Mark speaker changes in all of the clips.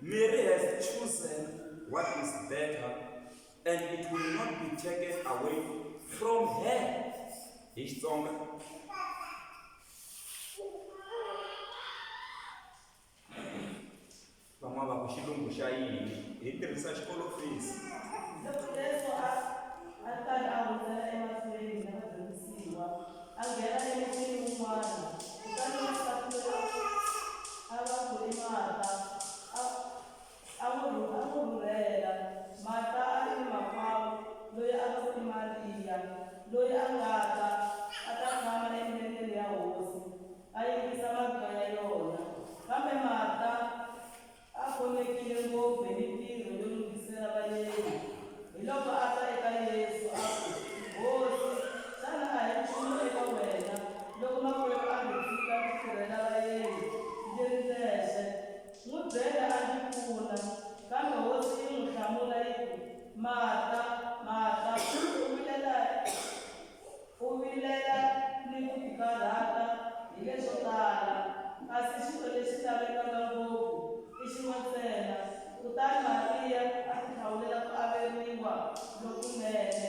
Speaker 1: Mary has chosen what is better and it will not be taken away from her hi xitsonga van'wana va ku xilungu xa yini hi tirhisa xikolo fees Loko leswo
Speaker 2: a a ta a hundzela emahlweni na vadyondzisiwa. A nghena emutini wun'wana, kutani wansati loyi a va ku i Marta a a n'wi a n'wi rhurhela. Marta a ri ni makwavo loyi a va ku i Mariya, loyi a nga ta a ta tshama emilengeni ya Hosi, a yingisa mabya ya yona. Kambe Marta A khomekile ngopfu hi mintirho yo lunghisela vayeni, hiloko a ta eka Yesu a ku, Hosi, xana a hi nchumu eka wena loko makwerhu a ndzi tshika ndzi tirhela vayeni ndzi ri ndzexe? N'wi byela a ndzi pfuna. Kambe Hosi yi n'wi hlamula yi ku, Marta, Marta, u vilela hi. U vilela ni ku tikarhata hi leswo tala, kasi xilo lexi lavekaka ngopfu i xin'we ntsena. Kutani Mariya a tihlawulela ku averiwa lokunene,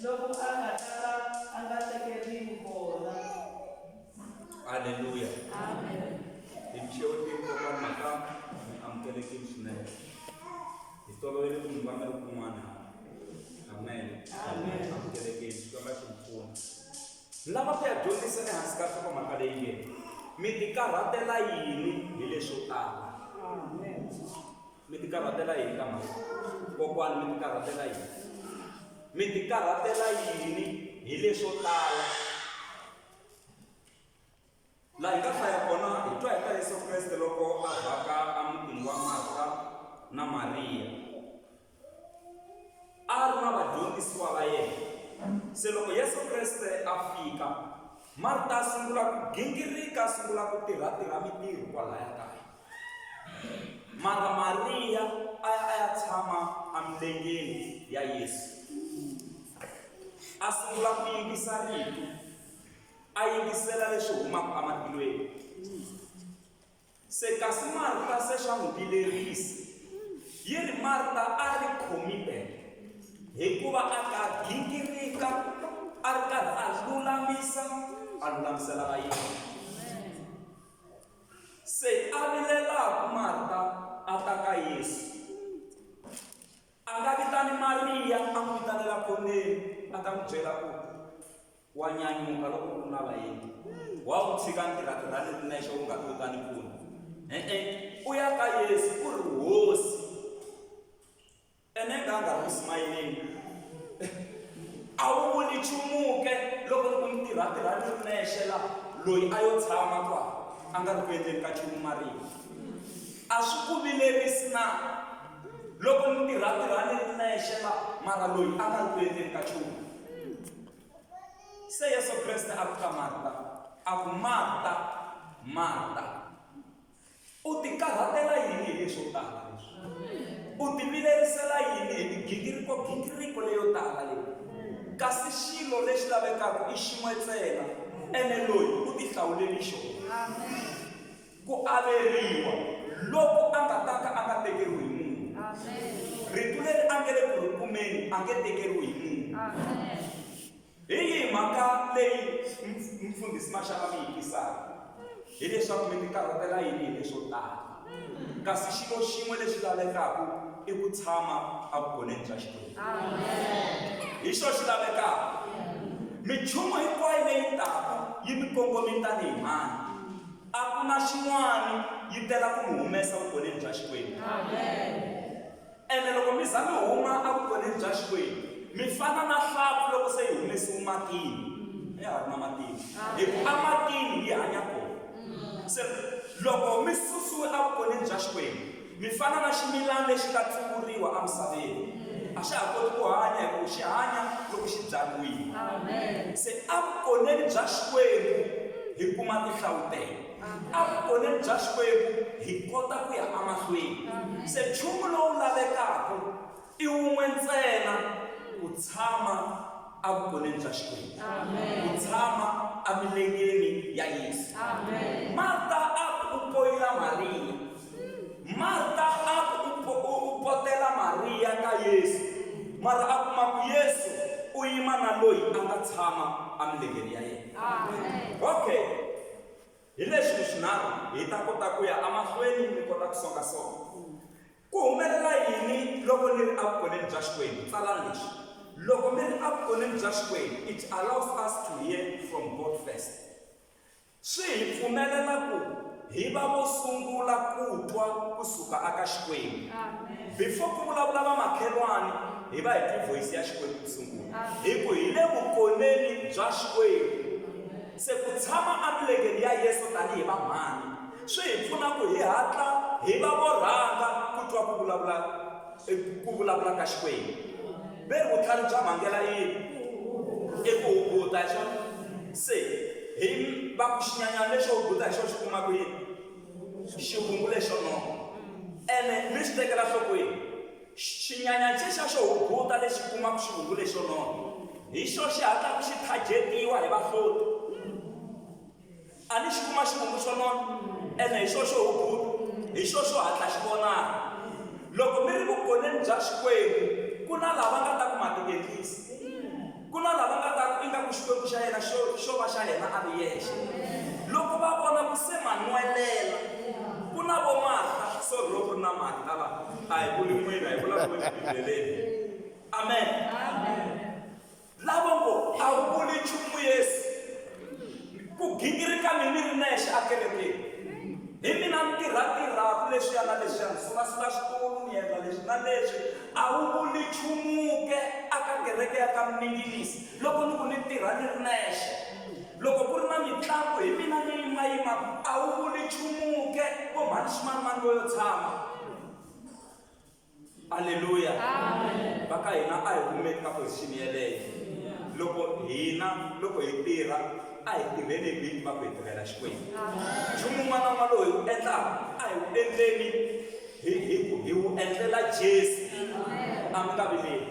Speaker 2: loku a nga ta va a nga tekeriwi kona. Haleluya!
Speaker 1: Amen.
Speaker 2: Timixevo tihi
Speaker 1: kokwana Makamu? Mi amukelekile swinene. Hi tolovele ku mi vanga loko un'wana amen amukelekeni
Speaker 2: xikwembu a
Speaker 1: xi mi pfuna ni lava ku ya dyondzisa ehansi ka nhlokomhaka leyi nge mi tikarhatela yini hi leswo tala
Speaker 2: mi
Speaker 1: tikarhatela yini ka mhaka kokwani mi tikarhatela yini mi tikarhatela yini hi leswo tala Laha hi nga hlaya kona, hi twa hi ta Yesu Kreste loko a vhaka emutini wa Marta na Mariya. A ri na vadyondzisiwa va yena. Se loko Yesu Kreste a fika, Marta a sungula ku gingirika, a sungula ku tirha-tirha mintirho kwalaya kaya. Mara Mariya a ya a ya tshama emilengeni ya Yesu. A sungula ku yingisa rito, A yingisela leswi humaka ematilweni. Se kasi Marta se swa n'wi vilerisa. Yi ri Marta a ri khomile hikuva a ta gingirika a ri karhi a lulamisa a lulamisela vayeni. Se a vilelaka Marta a ta ka Yesu. A nga vitani Mariya a n'wi vitanela khoneni a ta n'wi byela ku Wa nyanyuka loko ku ri na vaendzi. Wa n'wi tshika ntirha-tirhani u ri nexe u nga ti u ta ni pfuna. E-e, u ya ka Yesu u ri, Hosi. Ene a nga a nga ri ku simayeleni. A wu vuli nchumu ke loko ni ku ntirha-tirhani u ri nexe laha, loyi a yo tshama kwala a nga ri ku endleni ka nchumu marito. A swi ku vilerisi na loko ni ntirha-tirhani u ri nexe laha, mara loyi a nga ri ku endleni ka nchumu? Se Yesu Kreste a ku ka Marta, a ku, Marta, Marta, u ti karhatela yini hi leswo tala leswi? U ti vilerisela yini hi migingiriko gingiriko leyo tala leyi? Kasi xilo lexi lavekaka i xin'we ntsena, ene loyi u ti hlawuleli xona. Ku averiwa, loko a nga ta ka a nga tekeriwi hi munhu. Rito leri a nge le ku ri kumeni a nge tekeriwi hi munhu. Hi yihi mhaka leyi Mfundhisi Mashava mi yi tisaka? Hi leswaku mi tikarhatela yini hi leswo tala. Kasi xilo xin'we lexi lavekaka i ku tshama evugoneni bya Xikwembu. Hi xo xi lavekaka. Minchumu hinkwayo leyi taka yi mi kongome tanihi mhani. A ku na xin'wana, yi tela ku mi humesa vukoneni bya Xikwembu. Ene loko mi za mi huma evukoneni bya Xikwembu, mi fana na hlampfi loko se yi humesiwe matini, ya ha ri na matini, hi ku ematini yi hanya kona. Se loko mi susiwe evukoneni bya Xikwembu, Mi fana na ximilana lexi nga tsuvuriwa emisaveni. A xa ha koti ku hanya hikuva xi hanya loko xi byariwile. Se evukoneni bya Xikwembu hi kuma tinhlavutelo. Evukoneni bya Xikwembu hi kota ku ya emahlweni. Se nchumu lowu lavekaka. I wun'we ntsena ku tshama a vukoneni bya Xikwembu, ku tshama emilengeni ya Yesu. Marta a ku u poyila Mariya. Marta a ku u potela Mariya ka Yesu, mara a kuma ku Yesu u yima na loyi a nga tshama emilengeni ya yena. Okay, hi leswi leswinharhu hi ta kota ku ya emahlweni ni kota ku songasonga. Ku humelela yini loko ni ri evukoneni bya Xikwembu? Tsalani leswi, Loko mi ri evukoneni bya Xikwembu, it allows us to hear from God first. Swi hi pfumelela ku hi va vo sungula ku twa ku suka eka Xikwembu. Before ku vulavula vamakhelwani, hi va hi twi vhoyisi ya Xikwembu ku sungula, hi ku hi le vukoneni bya Xikwembu. Se ku tshama emilengeni ya Yesu tanihi vamhani swi hi pfuna ku hi hatla hi va vo rhanga ku twa ku vulavula ku vulavula ka Xikwembu. Ve vutlhari bya vhangela i yini? I ku hubuta, hi swona? Se hi va ku xinyanyana lexo hubuta hi xona xi kuma ku yini? Xivungu lexo nona. Ene mi swi tekela nhlokweni? Xinyanyatsexa xo hunguta lexi kumaka xivungu lexo nona hi xoxe xi hatlaka xi thajetiwa hi vahloti. A ni xi kuma xivungu xo nona, ene hi xoxo xo hunguta, hi xoxo xo hatla xi vonaka. Loko mi ri vugoneni bya Xikwembu, ku na lava nga ta ku ma tingengisa. Ku na lava nga ta ku ingaku Xikwembu xa yena xo xo va xa yena a ri yexe. Loko va vona ku se ma nwelela, ku na vo Marta, so ro ku ri na Marta la, a hi vuli n'wina, hi vula ku eBibeleni. Amen. Lavo ngo, A wu vuli nchumu, Yesu. Ku gingirika ni ni ri nexe akerekeni. Hi mina ni tirha-tirhaku leswiya na leswiya, ni sula-sula xitulu, ni yendla leswi na leswi. A wu vuli nchumu ke aka kereke ya ka Minginisi loko ni ku ni tirha ni ri nexe? Loko ku ri na mitlangu, hi mina ni yima-yimaku. A wu vuli nchumu ke, vo mhani Ximanimani vo yo tshama? aleluya va ka hina a hi kumeki ka position yeleyo loko hina loko hi tirha a hi tirheni hi vini va ku hi tirhela xikwembu nchumu un'wana un'wana lowu hi wu endlaka a hi wu endleni hi hi ku hi wu endlela jesu a mi nga vileli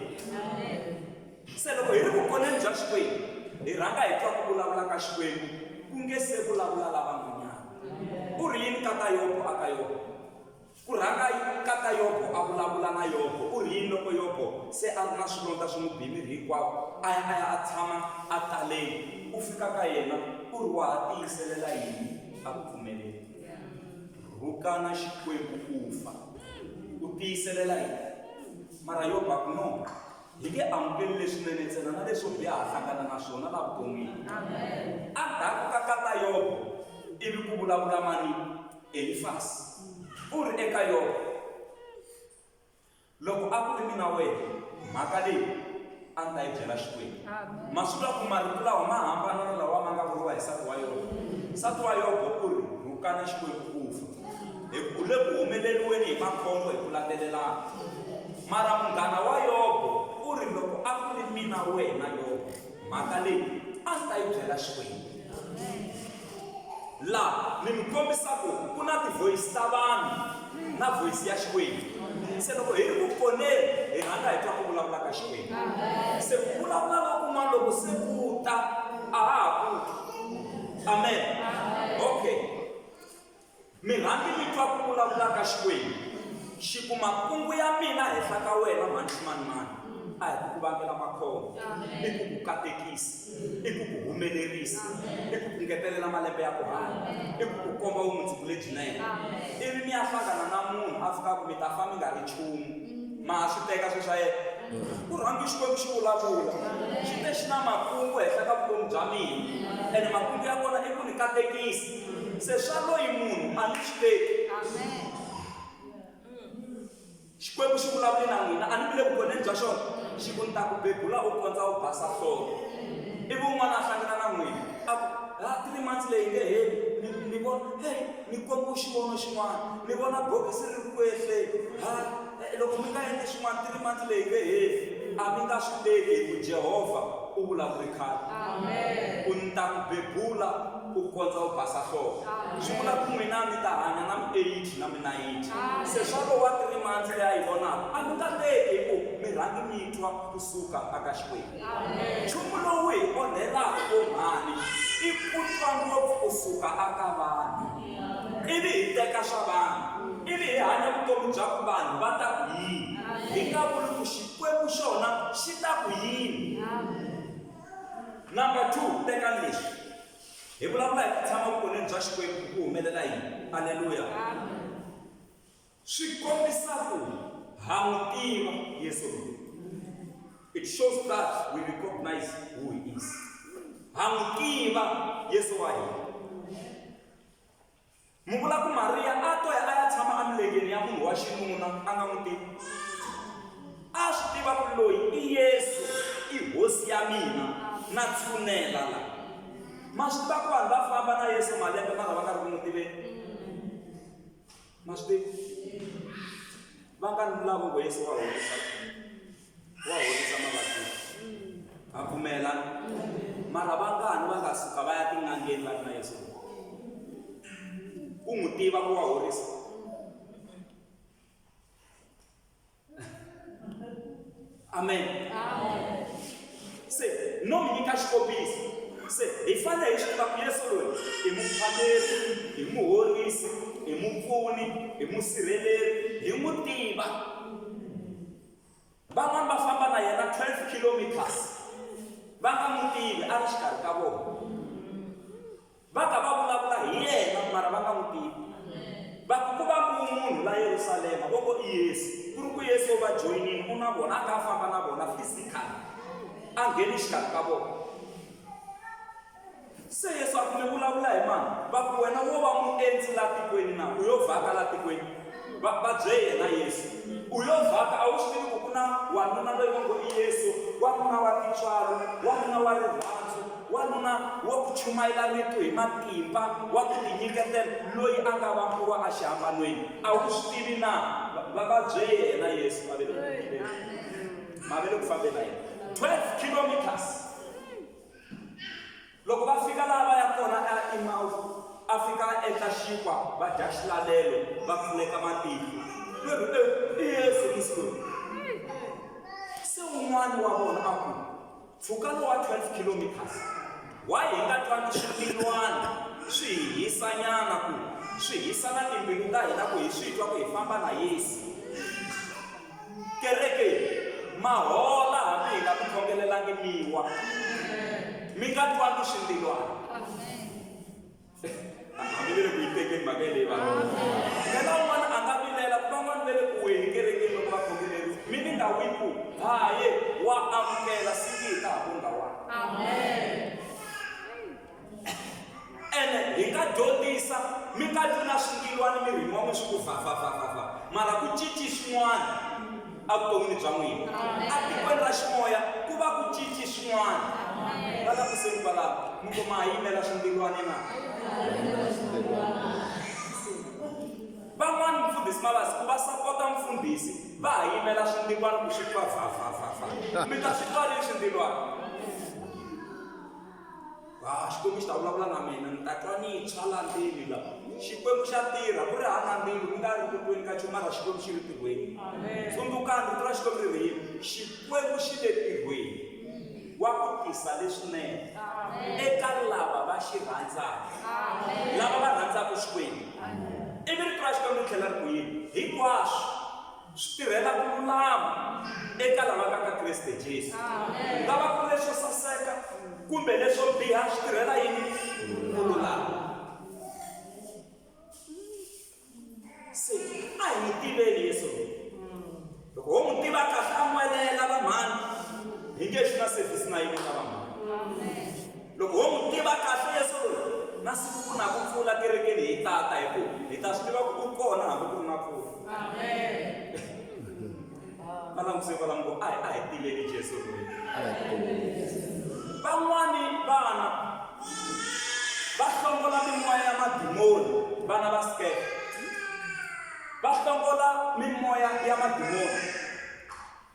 Speaker 1: se loko hi ri vukoneni bya xikwembu hi rhanga hi twa ku vulavula ka xikwembu ku nge se vulavula lavan'wanyana u ri yini ka ka yobo a ka yobo Ku rhanga ka ka Yobo a vulavula na Yobo, u ri yini loko Yobo se a ri na swilondza swi n'wi biye miri hinkwawo? A ya a ya a tshama ataleni. U fika ka yena u ri, Wa ha tiyiselela yini? A ku pfumeleli. Rhukana Xikwembu u fa. U tiyiselela yini? Mara Yobo a ku, No. Hi nge amukeli leswinene ntsena na leswo biha ha hlangana na swona laha vuton'wini. Endzhaku ka ka ka Yobo ivi ku vulavula mani? Elifasi u ri eka Yobo, Loko a ku ri mina wena, mhaka leyi a ni ta yi byela Xikwembu. Ma swi twa ku marito lawa ma hambana na lawa ma nga vuriwa hi nsati wa Yobo. Nsati wa Yobo u ri, Rhukana Xikwembu u fa, hi ku u le ku humeleriweni hi makhombo hi ku landzelelana. Mara munghana wa Yobo u ri, Loko a ku ri mina wena Yobo, mhaka leyi a ni ta yi byela Xikwembu. La ni mi kombisa ku ku na tivoyisi ta vanhu na voyisi ya Xikwembu. Se loko hi ri ku poneni, hi rhanga hi twa ku vulavula ka Xikwembu. Se ku vulavula lokun'wana loko se ku ta, a ha ha pfuki. Amen. Okay. Mi rhambi mi twa ku vulavula ka Xikwembu, xi ku, Makungu ya mina henhla ka wena mhani ximanimani a hi ku ku vangela makhombo, i ku ku katekisa, i ku ku humelerisa, i ku ku ngetelela malembe ya ku hanya, i ku ku komba vumundzuku lebyinene. Ivi mi ya hlangana na munhu a swi tiva ku mi ta fa mi nga ri nchumu. Ma ha swi teka sweswo yena? Ku rhambi Xikwembu xi vulavula, xi te xi na makungu henhla ka vutomi bya mina, ene makungu ya kona i ku ni katekisa, se swa loyi munhu a ni swi teki xikwembu xi vulavule na n'wina a ni vile vukoneni bya xona xi ku ni ta ku bebula u kondza u basa hlolo ivi un'wana a hlangana na n'wina a ku ha three months leyi nge heli ni vona heyi ni kombe xivono xin'wana ni vona bokisi ri ri ku ehleni ha Loko mi nga endli swin'wana, three months leyi nge heli, a mi nga swi teki hi ku Jehovha u vulavule khale ku, Ni ta ku bebula ku kondza u basa nhloko. Swi vula ku n'wina mi ta hanya na mi-eighty na mi-ninety. Se swa lowa three months leyi a yi vonaka, a mi nga teki hi ku mi rhange mi twa kusuka aka Xikwembu. nchumu lowu hi onhelaka vunghani i ku twa ngopfu ku suka aka vanhu ivi hi teka swa vanhu ivi hi hanya vutomi bya ku vanhu va ta ku yini hi nga vuli ku xikwembu xona xi ta ku yini number two teka leswi hi vulavula hi ku tshama vukoneni bya xikwembu ku humelela yini aleluya swi kombisa ku ha n'wi tiva yesu loyi it shows that we recognize who he is ha n'wi tiva yesu wa hina mi vula ku mariya a to ya a ya tshama emilengeni ya munhu wa xinuna a nga n'wi tivi a swi tiva ku loyi i yesu i hosi ya mina na tshunela la ma swi tiva ku vanhu va famba na yesu malembe mara va nga ri ku n'wi tiveni ma swi tivi vangani ni lavo ku yesu wa horisa wa horisa mavabyi ha pfumela mara vangani va nga suka va ya tin'angeni va ri na yesu ku n'wi tiva ku wa horisa amen se no mi nyika xikombiso se hi fanele hi swi tiva ku yesu loyi i muphameri hi muhorisi hi mupfuni hi musirheleri hi n'wi tiva van'wani va famba na yena 12 kilometers va nga n'wi tivi a ri xikarhi ka vona Va ka va vulavula hi yena, mara va nga n'wi tivi. Va ku, Ku va ku wu munhu la Yerusalema, vo ngo i Yesu. Ku ri ku Yesu u va joyinile, u na vona, a kha a famba na vona physically, a nghene exikarhi ka vona. Se Yesu a ku, Mi vulavula hi mani? Va ku, Wena wo va muendzi la tikweni na? U yo vhaka la tikweni? Va ba bye yena Yesu. U yo vhaka, a wu swi tivi ku ku na wanuna loyi va ngo i Yesu, wanuna wa tintswalo, wanuna wa rirhandzu, wanuna wa ku chumayela rito hi matimba, wa ku tinyiketela, loyi a nga vambiwa exihambanweni? A wu swi tivi na? Va, va ba bye yena Yesu, va ve le ku vukileni. Ma ve le ku fambeni na yena 12 kilometers. Loko va fika laha va ya kona eImawusi, a fika a endla xinkwa, va dya xilalelo, va khuleka matihlo. Va ku, E, i Yesu musi loyi. Se un'wana wa vona a ku, Mpfhuka lowu wa 12 kilometers, why hi nga twangi swipfilwana swi hi hisanyana ku swi hisa na timbilu ta hina ku hi swi twa ku hi famba na Yesu? Kereke ma hola hambi hi nga mi khongelelangi mi wa. Mi nga twangi xindilwana. Hambi ve le ku yi tekeni mhaka yeleyi vanhu. Phela un'wana a nga vilela ku van'wana ve le ku weni kerekeni loko va khongeleriwa. Mi ni nga wi ku, Haye, wa amukela, siku yi ta ha ku nga wanga. Amen. ene hi nga dyondzisa mi nga vi na swingilwani mirini wa n'wina swi ku vhavhavhavhava mara ku cinci swin'wana evuton'wini bya n'wina etikweni ra ximoya ku va ku cinci swin'wana va langutiseni kwalaho mi ku ma ha yimela swingilwani na van'wani mfundhisi mavasi ku va sapota mfundhisi va ha yimela swingilwani ku swi twa vhavhavhavha mi ta swi twa rini swingilwani Ah, Xikwembu xi ta vulavula na mina ni ta twa ni tshwa la ndzeni la. Xikwembu xa tirha ku ri hava mbilu mi nga ri ku tweni ka nchumu mara Xikwembu xi ri tirhweni. Tsundzukani vito ra Xikwembu ri ri yini? Xikwembu xi le tirhweni wa ku tisa leswinene eka lava va xi rhandzaka lava va rhandzaka Xikwembu. Ivi rito ra Xikwembu ri tlhela ri ku yini? Hinkwaswo Swi tirhela ku lulama eka lava nga ka Kriste Jesu. Ku nga va ku ri leswo saseka kumbe leswo biha, swi tirhela yini? Ku lulama. Se a hi n'wi tiveni Yesu loyi. Loko ho n'wi tiva kahle, a n'welela, vanghana, hi nge xi na sevhisi na yin'we ka vanghana. Loko ho n'wi tiva kahle Yesu loyi, na siku ku na ku pfula kerekeni hi ta ta hi ku hi ta swi tiva ku u kona hambi ku ri na pfula. Va languse kwalano ku a hi a hi tiveni Jesu loyi. Van'wani vana va hlongola mimoya ya madimoni, vana va skepe va hlongola mimoya ya madimoni.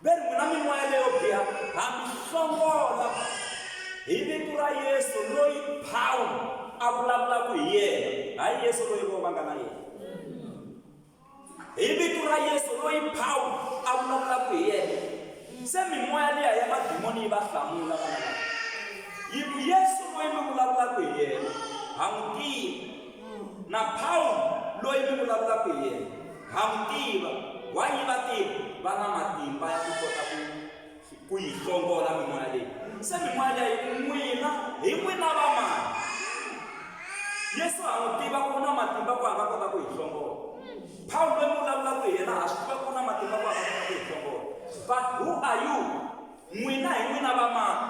Speaker 1: Ve ri, N'wina mimoya leyo biha, ha mi hlongola hi vito ra Yesu loyi Pawulo a vulavulaka hi yena, hayi Yesu loyi vona va nga na yena. Hi vito ra Yesu loyi Pawulo a vulavulaka hi yena. Se mimoya liya ya madimoni yi va hlamula vana lava, yi ku, Yesu loyi mi vulavulaka hi yena ha n'wi tivi. Na Pawulo loyi mi vulavulaka hi yena, ha n'wi tiva. Why va tiva? Va na matimba ya ku kota ku ku yi hlongola mimoya leyi. Se mimoya leyi n'wina hi n'wina va mani? Yesu ha n'wi tiva ku na matimba ku a nga kota ku yi hlongola. Pawulo loyi mi vulavulaka hi yena ha swi tiva ku na matimba ku a nga kota ku yi hlongola. But who are you? N'wina hi n'wina va mani?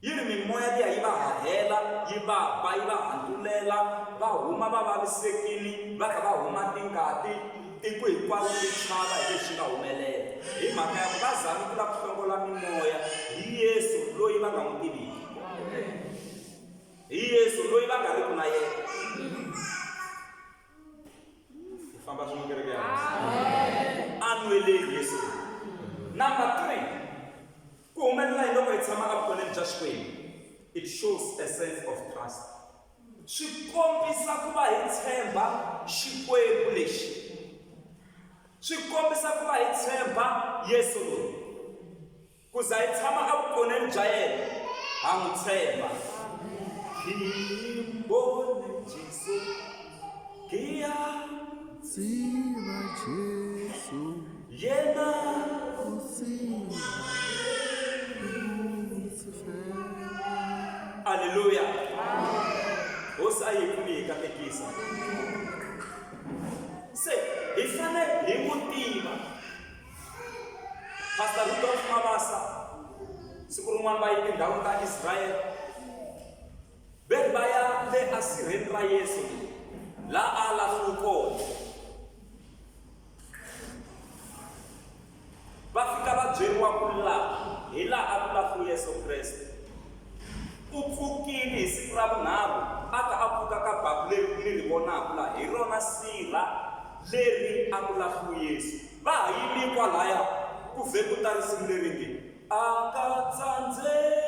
Speaker 1: Yi ri, Mimoya liya yi va hahela, yi va ba, yi va hantulela, va huma va vavisekile, va tlhela va huma tingati, tiko hinkwaro ri chava hi leswi nga humelela, hi mhaka ya ku va zame ku lava ku hlongola mimoya hi Yesu loyi va nga n'wi tiviki, hi Yesu loyi va nga riki na yena. Hi famba swin'we kereke ya Hosi. Anweleni Yesu. Number three. Ku humelela hi loko hi tshama evukhoneni bya Xikwembu. It shows a sense of trust. Swi kombisa ku va hi tshemba Xikwembu lexi. Swi kombisa ku va hi tshemba Yesu loyi. Ku za hi tshama evukhoneni bya yena, ha n'wi tshemba. Hi vone Jesu. Ngiya
Speaker 3: Tsiva Jesu yena
Speaker 1: u tsiva Aleluya. Hosi a yi pfuni hi katekisa. Se hi fanele hi n'wi tiva. Pastor Rudolf Mabasa siku rin'wana va yi tindhawu ta Israel Vhele va ya le asirheni ra Yesu la a lahliwe kona va fika va byeriwa ku laha hi laha a ku lahliwe Yesu Kreste u pfukile hi siku ra vunharhu a ta a pfuka ka baku leri mi ri vonaka laha hi rona sirha leri a ku lahliwe Yesu va ha yimi kwalaya ku vhe ku ta risimu leri nge a ka tsandzeki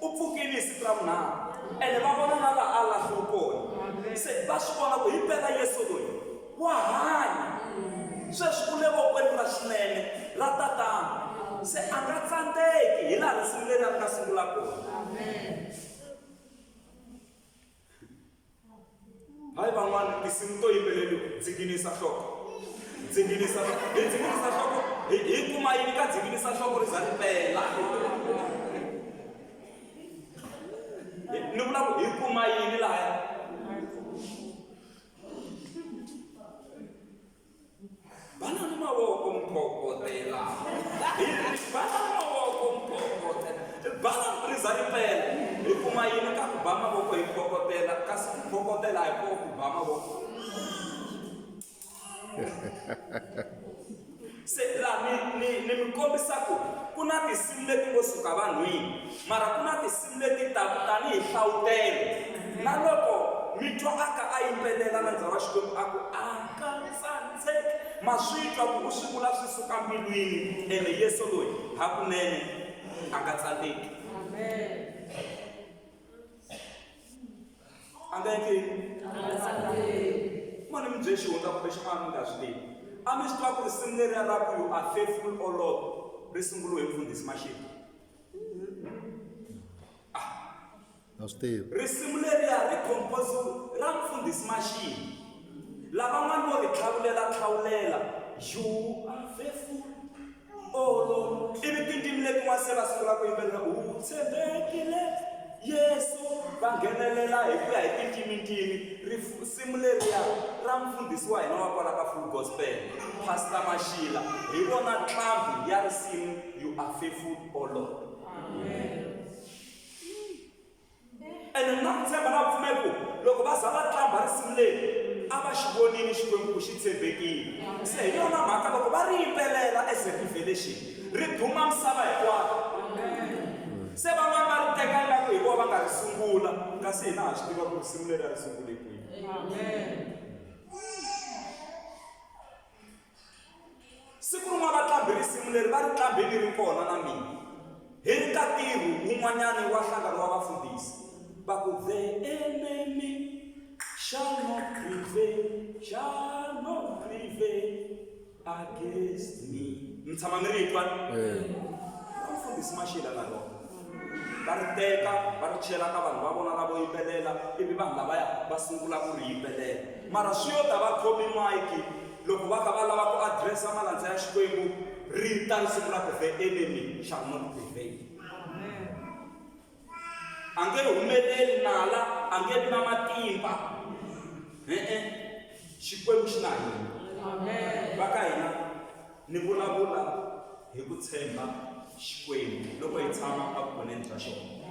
Speaker 1: U pfukile hi siku ra vunharhu, ene va vona na laha a lahliwe kona. Se va swi vona ku hi mpela Yesu loyi wa hanya. Sweswi u le vokweni ra xinene ra Tatana, se a nga tsandzeki hi laha ku sunguleni a nga sungula kona. hayi van'wana tinsimu to yimbeleriwa dzinginisa nhloko dzinginisa nhloko hi dzinginisa nhloko hi kuma yini ka dzinginisa nhloko ri za ri pela ni vula ku hi kuma yini lahaya Bana ni mavoko mphokotela. Bana ni mavoko mphokotela. Bana riza ripela. Hi kuma yini ka ku ba mavoko hi phokotela kasi ku phokotela hi ku ba mavoko. Se la ni ni ni mi kombisa ku ku na tinsimu leti ngo suka vanhwini. Mara ku na tinsimu leti taku tani hi nhlavutelo, na loko mi twa a ka a yimbelela na ndza wa Xikwembu a ku, A nga tsandzeki. Ma swi twa ku u swi vula swi suka mbilwini, ene Yesu loyi hakunene a nga tsandzeki. A nga endli yini? Ma ni mi bye xihundla kumbexana a mi nga swi tivi. A mi swi tiva ku risimu leriya ra ku You Are Faithful, O Lord, ri sunguliwe hi Mfundhisi Mashele?
Speaker 3: a swi tivi risimu leriya ri
Speaker 1: compose ra mfundhisi maxini lavan'wana vo ri tlhavulela tlhawulela you are faithful olo ivi tindzimi letin'wana se va sungula ku yimbelela u tshembekile yesu va nghenelela hi ku ya hi tindzimintimi risimu leriya ra mfundhisi wa hina wa kwala ka full gospel pastor maxila hi vona ntlhambi ya risimu You are faithful, O oh Lord. Amen. ene mi na ku tshemba na pfumeli ku loko va za va tlamba risimu leri a va xi vonile xikwembu ku xi tshembekile se hi yona mhaka loko va ri yimbelela as a revelation ri duma misava hinkwayo se van'wani va ri teka ingaku hi vona va nga ri sungula kasi hina ha swi tiva ku risimu leri a ri sungule kwihi Siku rin'wana va qambhe risimu leri va ri qambhe ni ri kona na mina. Hi ri ka ntirho wun'wanyana wa nhlangano wa vafundhisi, va ku, The enemy shall not prevail, shall not prevail against me. Mi tshama mi ri twa? Va mfundhisi Mashila na rona va ri teka va ri chela ka vanhu va vona lavo yimbelela ivi vanhu lavaya va sungula ku ri yimbelela mara swi yo ta va khomi mayiki Loko va kha va lava ku address-a malandza ya Xikwembu, ri ta ri sungula ku The enemy shall not prevail. A nge humeleli nala, a nge vi na matimba. E-e, Xikwembu xi na hina. Va ka hina, ni vulavula hi ku tshemba Xikwembu loko hi tshama a vukoneni bya xona.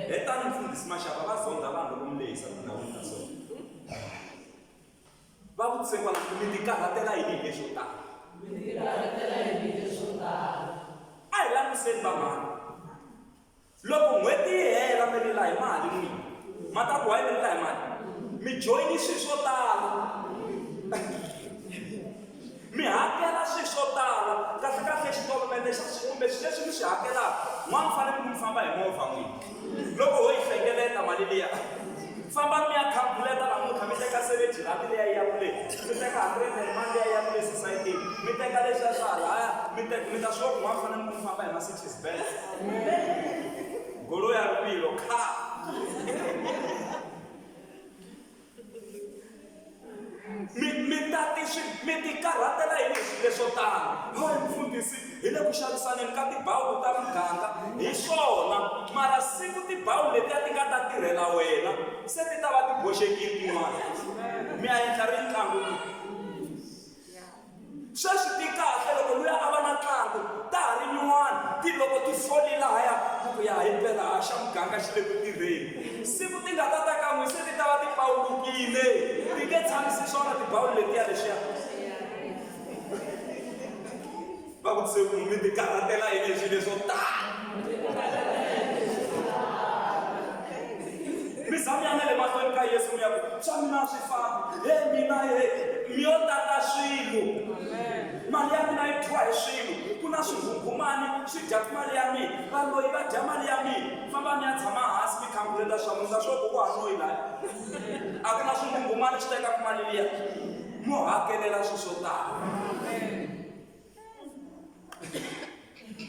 Speaker 1: Hetani Mfundhisi Mashava va zondha vanhu loko mi lehisa tindhawini ta so. Va vutise kwala ku mi tikarhatela yini hi leswo tala? Mi tikarhatela yini hi leswo tala? A hi langutiseni vanghana. Loko n'hweti yi hela mi rila hi mali n'wini. Ma ta ku why mi rila hi mali? Mi joyine swilo swo tala. Mi hakela swilo swo tala, kahle-kahle xitolomente xa swilo kumbe swilo leswi mi swi hakelaka, n'wana u fanele ku mi famba hi movha n'wina. Loko ho yi hlengeleta mali liya, fambani mi ya khalkhuleta namuntlha, mi teka seventy rhandi liya yi ya kule, mi teka hundred and mani liya yi ya kule sosayitini, mi teka leswiya swa halaya, mi teka, mi ta swi vona ku n'wana u fanele ku mi famba hi Mercedes Benz, goloi ya rivilo, car. mi mi ta ti swi mi ti karhatela hi leswi leswo tala loyi mfundhisi hi le ku xavisaneni ka tibawulu ta muganga hi swona mara siku tibawulu leti a ti nga ta tirhela wena se ti ta va ti boxekile tin'wana mi a endla ri ntlangu Sweswi ti kahle loko luya a va na ntlangu, ta ha ri nyuwana, ti loko ti foli lahaya ku ku ya hi phela a xa muganga xi le ku tirheni. Siku ti nga ta ta ka n'wi se ti ta va ti pawulukile, ti nge tshamisi swona tibawuli letiya leswiya. Va vutise ku, Mi tikarhatela yini hi swilo leswo tano? mi za mi ya na le mahlweni ka yesu mi ya ku swa mina swi famba he mina he mi yo tata swilo mali ya mina yi dyiwa hi swilo ku na swinghunghumani swi dyaku mali ya mina valoyi va dya mali ya mina famba mi ya tshama hansi mi khanguleta swa musa swo ku ku hanoyi laya a ku na swinghunghumani swi tekaku mali liya mo hakelela swi swo tala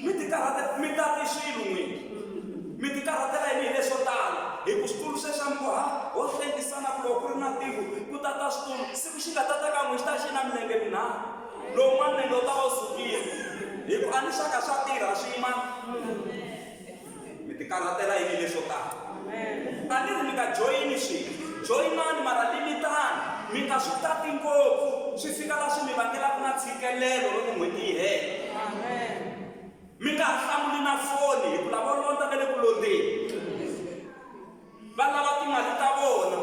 Speaker 1: mi ti karhatela mi ta ti swilo n'wini mi ti karhatela yini hi leswo tala hi ku switulu swe swa mikoha ho hlengisana ku loko ku ri na tiko ku ta ta switulu siku xi nga ta ta ka n'wi xi ta xi na milenge minharhu lowun'wana nenge u ta va u sukile hi ku a ni swa ka swa tirha swin'wana mi ti karhatela yini leswo tala a ni ri mi nga joyini swilo joyinani mara limitani mi nga swi tati ngopfu swi fika la swi mi vangelaka na tshikelelo loko n'hweti yi hela mi nga ha hlamuli na foni hi ku lavo londza ve le ku londzeni va lava timali ta vona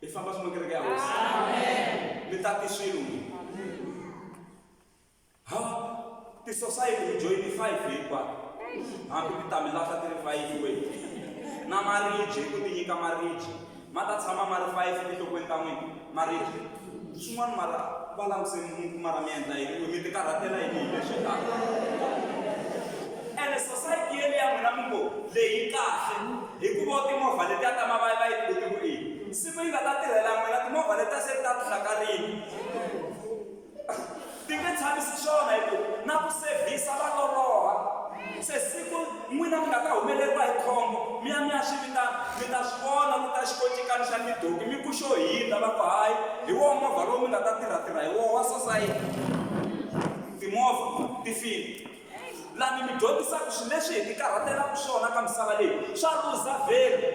Speaker 1: i famba swi makereke ya hosi mi tati swilo n'wini Ha! Tisosayiti hi joyine five hinkwato, hambi ti ta mi lahla ti ri five wena. Na maribye hi ku mi nyika maribye, ma ta tshama ma ri five etinhlokweni ta n'wina, maribye. Swin'wana mara va langutiseni mi ku mara mi endla yini ku mi tikarhatela yini hi leswi taka? Ene sosayiti yeliya ya n'wina mi ngo leyi yi kahle, hikuva timovha letiya ta mavaya va yi ku ti ku i yini? Siku yi nga ta tirhela n'wina, timovha letiya se ti ta ti hlakarile. Ti nge tshamisi swona hi ku na ku sevhisa va loloha. Se siku n'wina mi nga ta humeleriwa hi khombo, mi ya mi ya swi vitana, mi ta swi vona ku ta xikoncikani xa tidoki mi ku xo hindza, va ku hayi, hi woho movha lowu mi nga ta tirha-tirha hi woho wa sosayiti. Timovha ti file. Laha ni mi dyondzisaka swilo leswi hi tikarhatelaka swona ka misava leyi swa luza vhelu.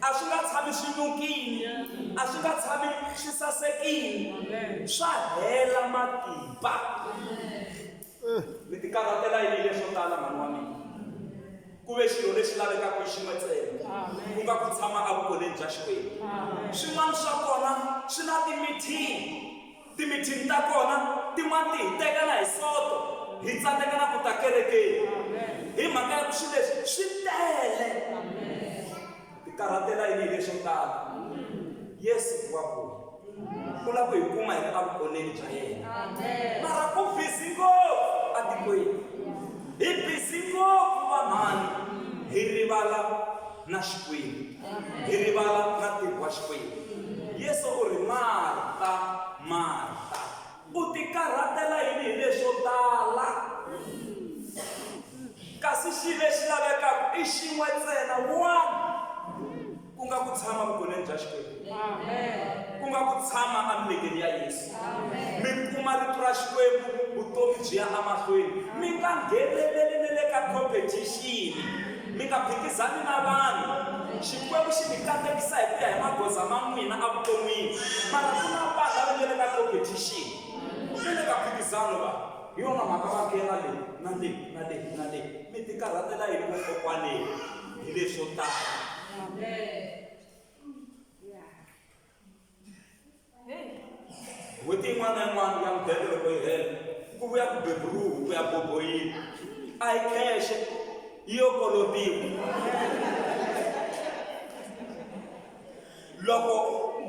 Speaker 1: A swi nga tshami swi nukile, a swi nga tshami swi sasekile, swa hela matimba. Mi tikarhatela yini leswo tala mhani wa mina? ku ve xilo lexi lavekaka hi xin'we ntsena ku nga ku tshama evukoleni bya xikwembu swin'wana swa kona swi na timithini Timithini ta kona tin'wana ti hi teka na hi Soto, hi tsandzeka na ku ta kerekeni hi mhaka ya ku swilo leswi swi tele. Ti karhatela yini hi leswo tala? Yesu wa vuya, u lava ku hi kuma hi ri evuoneni bya yena. Mara u bizi ngopfu etikweni, hi bizi ngopfu vanhwana, hi rivala na Xikwembu. Hi rivala na ntirho wa Xikwembu. Yesu u ri, Marta, Marta, u tikarhatela yini hi leswo tala? Kasi xi lexi lavekaka i xin'we ntsena, one, ku nga ku tshama vugoneni bya Xikwembu. ku nga ku tshama emilengeni ya yesu mi kuma rito ra xikwembu vutomi byi ya emahlweni mi nga ngheneleli ni le ka competition mi nga phikizani na vanhu xikwembu xi mi katekisa hi ku ya hi magoza ma n'wina evuton'wini mara ku na vanhu lava nga le ka competition ni le ka phikizano va hi yona mhaka va nghena le na le na le na le mi tikarhatela yini vokokwaneni hi leswo tala n'hweti yin'wana na yin'wana ya mudende loko yi hela ku vuya ku beburuhu ku ya boboyini a yi khexhe yi yo kolotiwa loko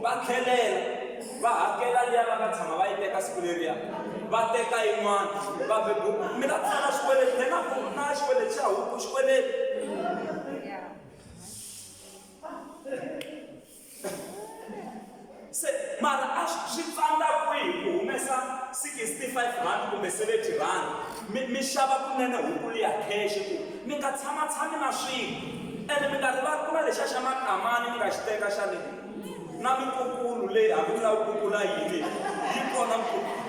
Speaker 1: va tlhelela va hakela liya va nga tshama va yi teka siku leriya va teka yin'wana va bebu mi ta tsala xikweleti na xikweleti xa huku xikweleti se mara a swi tsandza kwihi ku humesa 65 rand kumbe 70 rand mi mi xava kunene hukulu ya khexi ku mi nga tshamatshami na swilo ene mi nga rivali ku na lexa xa makamani mi nga xi teka xa le na mikukulu leyi hambi mi la kukula yini yi kona mikukulu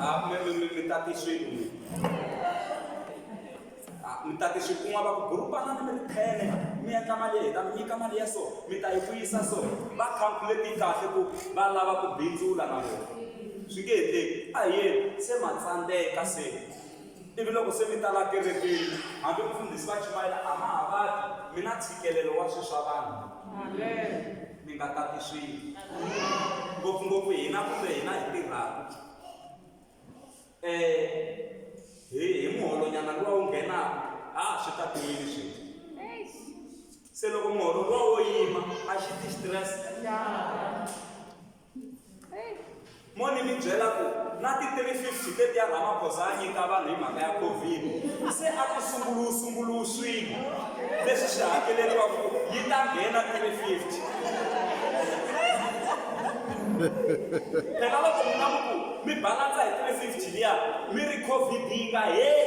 Speaker 1: Ah, mi- mi- mi- mi ta ti swilo mi. Ah, mi ta ti swilo kun'wa va ku burupanani mi ri phene mi endla mali hi ta mi nyika mali ya so mi ta yi vuyisa so va calculate kahle ku va lava ku bindzula na vona swi nge endleki a hi yeni se ma tsandzeka se ivi loko se mi tala kerekeni hambi mufundhisi va chumayela a ma ha vati mi na ntshikelelo wa swilo swa vanhu mi nga tati swilo ngopfungopfu hina kumbe hina hi tirhaka um hi hi muholonyana luwa wu nghenaka ha ha swi tatiwile swilo se loko muholo luwa wo yima a xi ti xitirese mo ni mi byela ku na ti-350 teti ya ramaphosa a nyika vanhu hi mhaka ya covid se a ku sunguluwu sunguluwu swilo leswi swi hakeleriwaku ku yi ta nghena 350 phela loko mi na muku mi balansa hi 350 liya mi ri covid yi nga heli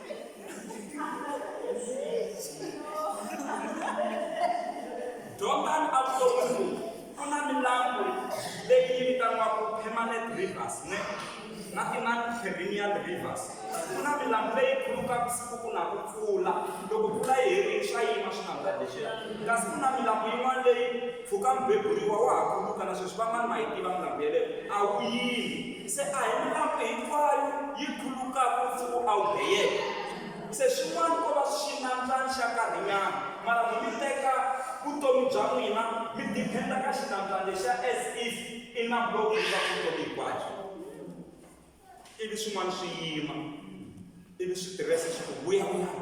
Speaker 1: Jordan a ku lo munhu ku na milambu leyi yi vitaniwaka permanent rivers ne na tinani perennial rivers ku na milambu leyi khulukaka siku ku na ku pfula loko pfula yi herile swa yima swi nga ndla lexiya kasi ku na milambu yin'wana leyi Pfuka mubeburiwa wa ha kuluka na sweswi van'wana ma yi tiva milambu yaleyo a wu yimi. Se a hi milambu hinkwayo yi khulukaka u pfuka u awuheyeka. Se swin'wana ko va xinandzani xa nkarhinyana mara mo mi teka vutomi bya n'wina mi depend-a ka xinandzani lexiya as if i nambu lowu khulukaka vutomi hinkwabyo. Ivi swin'wana swi yima ivi switirese swi ku vuyavuyani.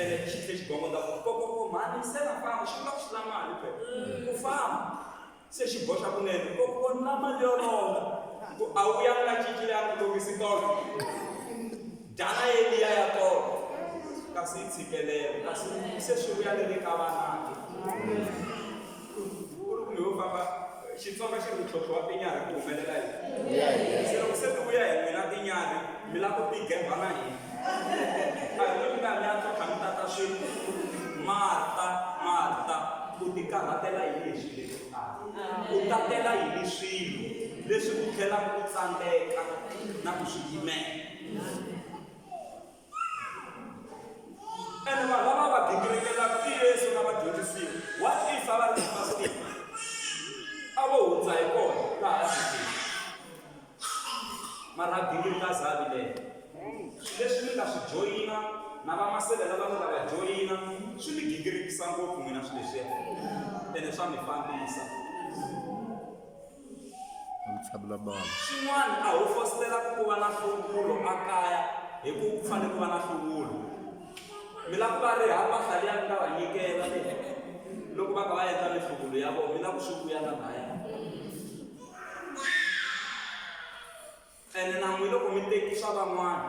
Speaker 1: ene xi tlhe xi gongonda ku kokoko mhani se na famba xi vula ku xi la mali phela ku famba se xi boxa kunene kokoko ni la mali yo longa ku a wu yangi na cinci leyi a ni longisi tolo dala ye liya ya tolo kasi yi tshikelelo kasi se swi vuya ni le ka vanake xitsonga xi ri ntlhontlho wa tinyarhi ku humelela yini se loko se ti vuya hi n'wina tinyarhi mi lava ku tigemba na hina a hi n'wi mi nga mi ya tlhontlha mi tata swilo marta marta u tikarhatela hi leswi leswi u tatela yini swilo leswi u tlhelaka u tsandzeka na ku swi yimela ene vanhu lava va gingirikelaku i yesu na vadyondzisiwa wa tifa va ri na matimba a vo hundza hi kona laha tikini mara a gingirika zavi leyo leswi mi nga swi joyina na vamasele lava mi nga va joyina swi mi gingirikisa ngopfu n'wina swi leswiya ene swa mi fambisa Swin'wana, a ho fositela ku va na nhluvulo ekaya hi ku ku fanele ku va na nhluvulo. Mi lava ku va riha mpahla liya mi nga va nyikela loko va kha va endla minhluvulo ya vona, mi lava ku swi vuya na lahaya. Ene na n'wina loko mi teki swa van'wana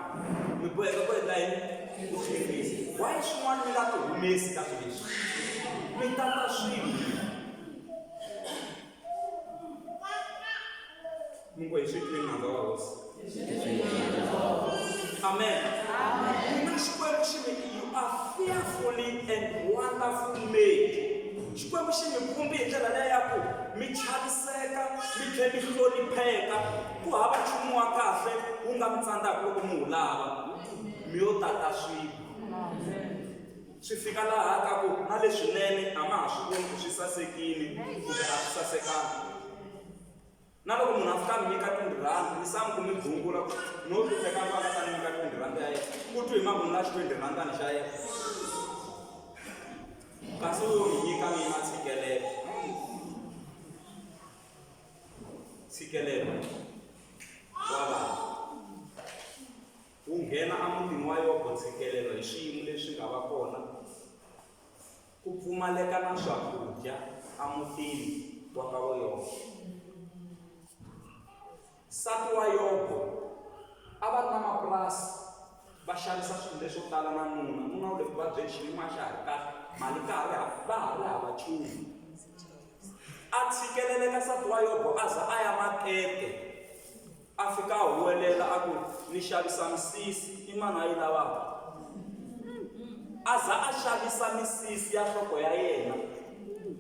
Speaker 1: mi boheka ku endla yini ku swi humesa why swin'wana mi nga swi humesi ka swilo leswi mi tata swilo mi ngo hi swi twini nandza wa hosi amen mina xikwembu xi mi you are fearfully and wonderful made xikwembu xi mi vumbi hi ndlela leya ku mi chaviseka mi tlhela mi hlonipheka Ku hava nchumu wa kahle wu nga mi tsandzaka loko mi wu lava, mi yo tata swilo. Swi fika laha ka ku na leswinene a ma ha swi voni ku swi sasekile kumbe a swi sasekanga. Na loko munhu a fika a mi nyika twenty rhandi, wisani ku mi gungula ku no hlupheka loyi a nga ta ni nyika twenty rhandi ya yena, u twe hi mavun'wa ya xitwendi rhandani xa yena. Kasi u lo ni nyika mina a tshikelela. ntshikelelo wa vanhu wu nghena emutini wa yobo ntshikelelo hi swiyimo leswi nga va kona ku pfumaleka na swakudya emutini wa ka wa yobo nsati wa yobo a va ri na mapurasi va xavisa swilo leswo tala na nuna nuna wu le ku vabyeni xiyimo a xa ha ri kahle mali ka ha ri ha va ha ri hava nchumu A tshikelele ka nsati wa Yobo aza aya makete, a fika a huwelela aku, Ni xavisa misisi. I mani ayi lavaka? Aza a xavisa misisi ya nhloko ya yena.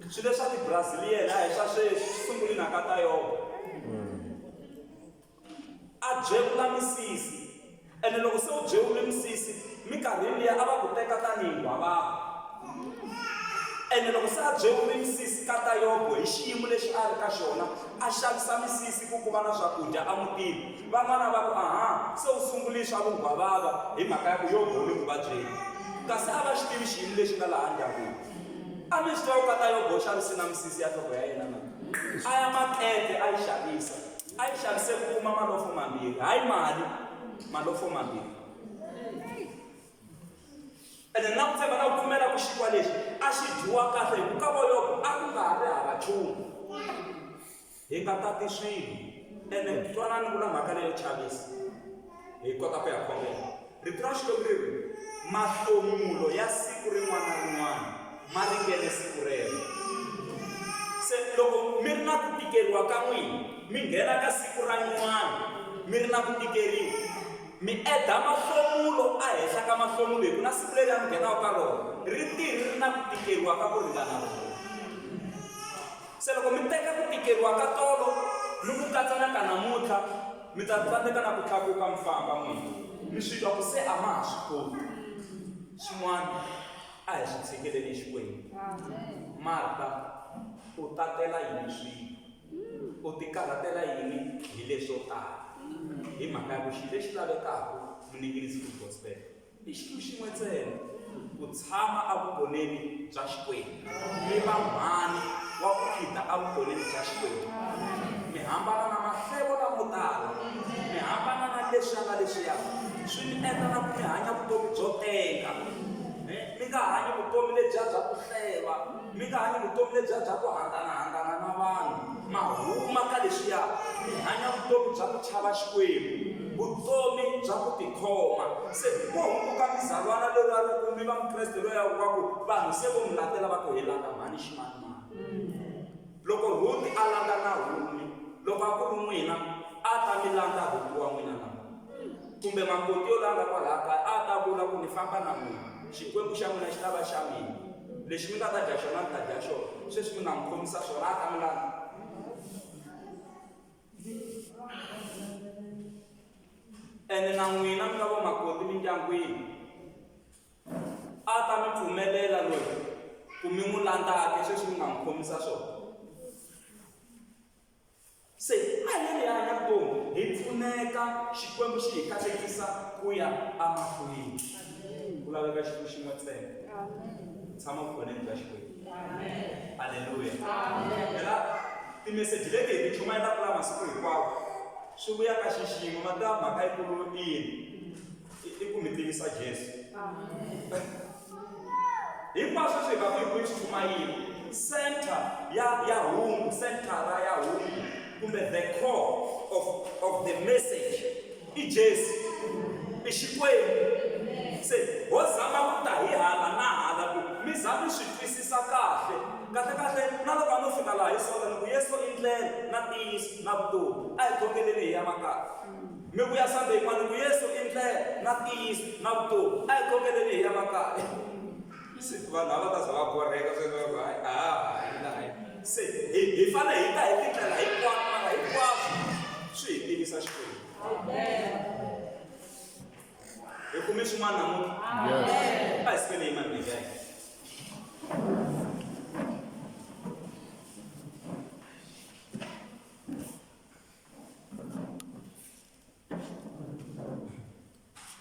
Speaker 1: Swilo leswa ti Brazilian a hi swa sweswi, swi sungule na ka ta Yobo. A byevula misisi. Ene loko se u byevule misisi, minkarhini liya a va ku teka tanihi nghwavava. Ene loko se a byevule misisi, kata Yobo hi xiyimo lexi a ri ka xona, a xavisa misisi ku ku va na swakudya emutini. Van'wana va ku, Aha, se u sunguli swa vunghwavava hi mhaka ya ku Yobo u le ku vabyeni. Kasi a va xi tivi xiyimo lexi nga laha ndyangwini. A mi swi tiva ku kata Yobo u xavise na misisi ya nhloko ya yena na? A ya makete a yi xavisa. A yi xavise ku kuma malofo mambirhi, hayi mali, malofo mambirhi. Ene na ku tshemba na ku pfumela ku xikiwa lexi a xi dyiwa kahle hi ku ka voyoko a ku nga ha ri hava nchumu. Hi nga tati swilo. Ene twanani ni vula mhaka leyo chavisa, hi kota ku ya khongela. Rito ra Xikwembu ri ri, Mahlomulo ya siku rin'wana na rin'wana ma ringene siku rero. Se loko mi ri na ku tikeriwa ka n'wina, mi nghena ka siku ra nyuwana mi ri na ku tikeriwa, mi edha mahlomulo ehenhla ka mahlomulo, hi ku na siku leriya mi nghenaka ka rona ri te ri ri na ku tikeriwa ka ku ringana rona. Se loko mi teka ku tikeriwa ka tolo ni ku katsa na ka namuntlha, Mi ta tsandzeka na ku tlakuka mi famba n'wini. Mi swi twa ku se a ma ha swi koti. Swin'wana a hi swi tshikeleni Xikwembu. Marta u tatela yini swilo? U tikarhatela yini hi leswo tala? Hi mhaka ya ku xilo lexi lavekaka, muninginis full gospel. I xilo xin'we ntsena, ku tshama evugoneni bya Xikwembu. Mi va mhani wa ku khida evugoneni bya Xikwembu. Mi hambana na mahlevo lamo tala. Mi hambana na leswiya na leswiya. Swi mi endla na ku mi hanya vutomi byo tenga. Mi nga hanyi vutomi lebyiya bya ku hleva. mi nga hanyi vutomi lebyiya bya ku hanganahangana na vanhu ma huma ka leswiya mi hanya vutomi bya ku chava xikwembu vutomi bya ku tikhoma se ko hunguka mizalwana leriya loko mi va mukreste loya wa ku vanhu se vo mi latela va ku helaka mhani ximanimani Loko Rhuti a landza Nahumi, loko a ku ri n'wina, a ta mi landza Rhuti wa n'wina na? Kumbe makoti yo landza kwalaha kaya a ta vula ku, Ni famba na n'wina. Xikwembu xa n'wina xi ta va xa mina. Lexi mi nga ta dya xona, ni ta dya xona. Sweswi mi nga n'wi khomisa swona, a ta mi landza. Ene na n'wina mi nga vamakoti emindyangwini. A ta mi pfumelela loyi ku mi n'wi landzaka sweswi mi nga n'wi khomisa swona se a hi ri hanya vutomi hi pfuneka xikwembu xi hi katekisa ku ya amahlweni ku laveka xiku xin'we ntsena tshama vukhoneni bya xikwembu aleluya phela timeseji leti hi ti chumayelaka la masiku hinkwawo swi vuya ka xiximo mati ya mhaka yi kulu yini i ku mi tivisa Jesu. Hinkwaswo swi nga ku hi ku yi chumayini center ya ya hungu centera ya hungu kumbe the core of of the message i Jesu i Xikwembu se ho zama ku ta hi hala na hala ku mi za mi swi twisisa kahle kahle kahle na loko a no fika laha hi sota ni ku Yesu i ndlela na ntiyiso na vutomi a hi khongeleni hi ya makaya Mi vuya Sunday yin'wana ku Yesu i ndlela na ntiyiso na vutomi. A hi khongeleni hi ya makaya. Se vanhu a va ta za va borheka se va va a ha ha yi laha. Se hi hi fane hi ta hi tindlela hinkwato mara hinkwaswo swi hi tivisa Xikwembu. Hi kume xin'wana namuntlha? A hi sukeni hi yima milenge ya hina.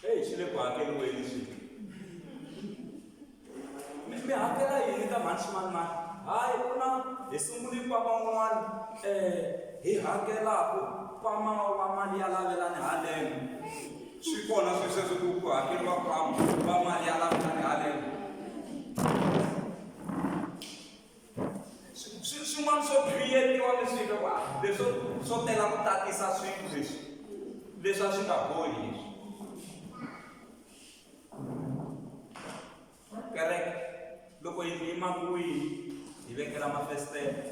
Speaker 1: eyi xi le ku hakeriweni xi mi mi hakela yini ka mhani ximanimani hayi ku na hi sunguli kwama un'wana um hi hakelaku kwama wa mali ya lavelani haleno swi kona swi sweswi ku ku hakeriwa kwama wa mali ya lavelani haleno swin'wana swo creatiwa mi swi va leswo swo tela ku tatisa swilo leswi leswi a swi nga bohi leswi kereke loko yi yima kwihi hi vekela mafesitele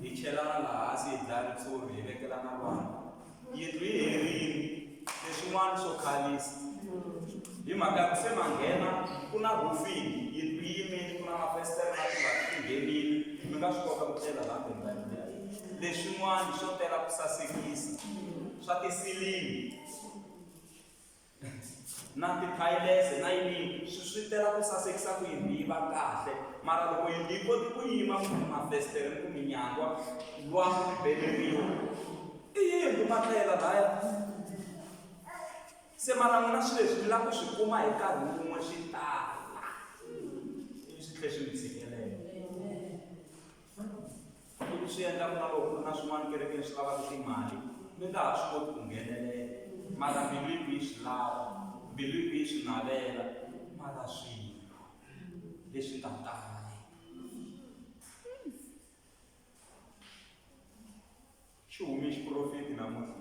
Speaker 1: hi chelana laha hansi hi dlaya ritshuri hi vekela na vanhu yindlu yi herile leswin'wana swo khalisa hi mhaka ya ku se manghena ku na rufini yindlu yi yimile ku na mafestere na tivati ti nghenile mi nga swi kota ku tlela laha bendani ya leswin'wana swo tela ku sasekisa swa tisilimi na tithayilese na yini swi swi tela ku sasekisa ku yindlu yi va kahle mara loko yindlu yi koti ku yima kumbe mafestere ni ku minyangwa lwangu ri beleriwa i yindlu matlela laya se mara n'wina swi leswi mi lava ku swi kuma hi nkarhi wun'we swi tala ivi swi tlhe swi mi tshikelele Loko swi endla ku na loko ku ri na swin'wana kerekeni swi lavaka timali mi nga ha swi koti ku nghenelela mara mbilu yi ku yi swi lava mbilu yi ku yi swi navela mara swilo leswi nga tala Xi hume xiprofeti namuntlha.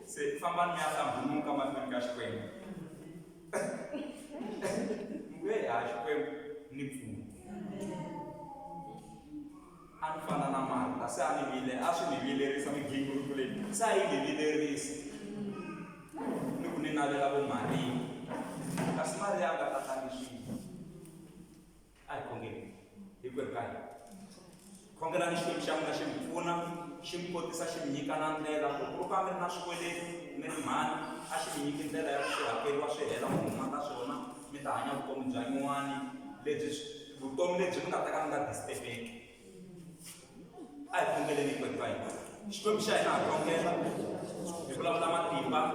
Speaker 1: Se fambani mi ya hlambuluka mahlweni ka Xikwembu. Mi ku, "Heyi, ha Xikwembu, ni pfuna." A ni fana na Marta, se a ni vile, a swi ni vilerisa migingiriko leyi, se a yi ni vilerisa. Ni ku ni navela vo Mariya, kasi Mariya a nga tatangi swilo. a hi khongeni hinkwerhu ka hina khongelani xikwembu xa n'wina xi mi pfuna xi mi kotisa xi mi nyika na ndlela loko ro ka mi ri na swikweleti mi ri mhani a xi mi nyiki ndlela ya ku swi hakeriwa swi hela mi huma ka swona mi ta hanya vutomi bya nyuwani lebyi vutomi lebyi mi nga ta ka mi nga disitebeki a hi khongeleni hinkwerhu ka hina xikwembu xa hina ha khongela hi vulavula matimba